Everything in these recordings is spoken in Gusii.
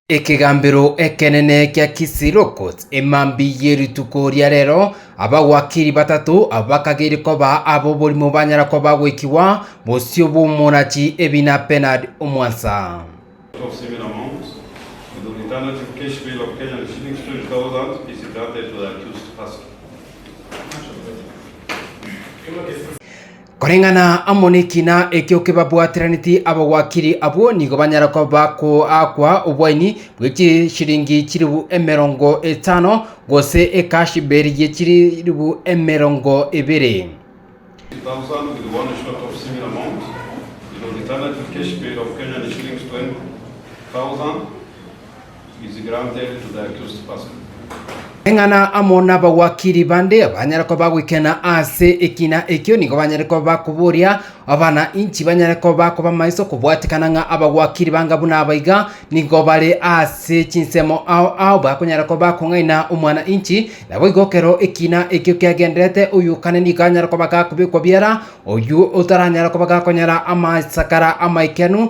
Ekegambero ekenene kia Kisilokus. Emambia ye rituko ria rero, abagwakiri batato abakageri koba ab'oborimo banyara koba goikigwa bosio bw'omonachi ebi na Bernard omwansa. Koreng'ana amo nekina ekio kebabwataraneti abagwakiri abwo nigo banyare koba bakoakwa obwaini bwe chishilingi chilifu emerongo etano, gose ekashiberi ye chilifu emerongo ebere. Eng'ana amo nabagwakiri bande banyare koba goikena ase ekina ekio nigo banyare koba koboria abana inchi banyare koba koba maiso kobwatikana ng'a abagwakiri banga buna aba iga nigo bare ase chinsemo ao ao bakonyara koba kong'aina omwana inchi naboigo ekero ekina ekio kiagendererete oywo kare nigo anyare koba gakobekwa biara oywo otaranyara koba gakonyara amasakara amaikenu.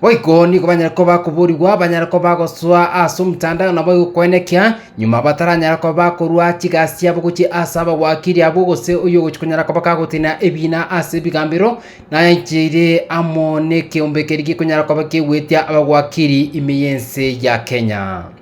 Boigo nigo banyare koba bakoboorigwa, banyare koba bagosoa ase omotanda na boigo koenekia, nyuma bataranyara koba bakorua chigasi chiabo gochia ase abagwakiri abwo, gose oyio ogochia konyara koba kagotenena ebiina ase ebigambero, naye aicheire amo nekeombe keria gekonyara koba kegwetia abagwakiri ime y'ense ya Kenya.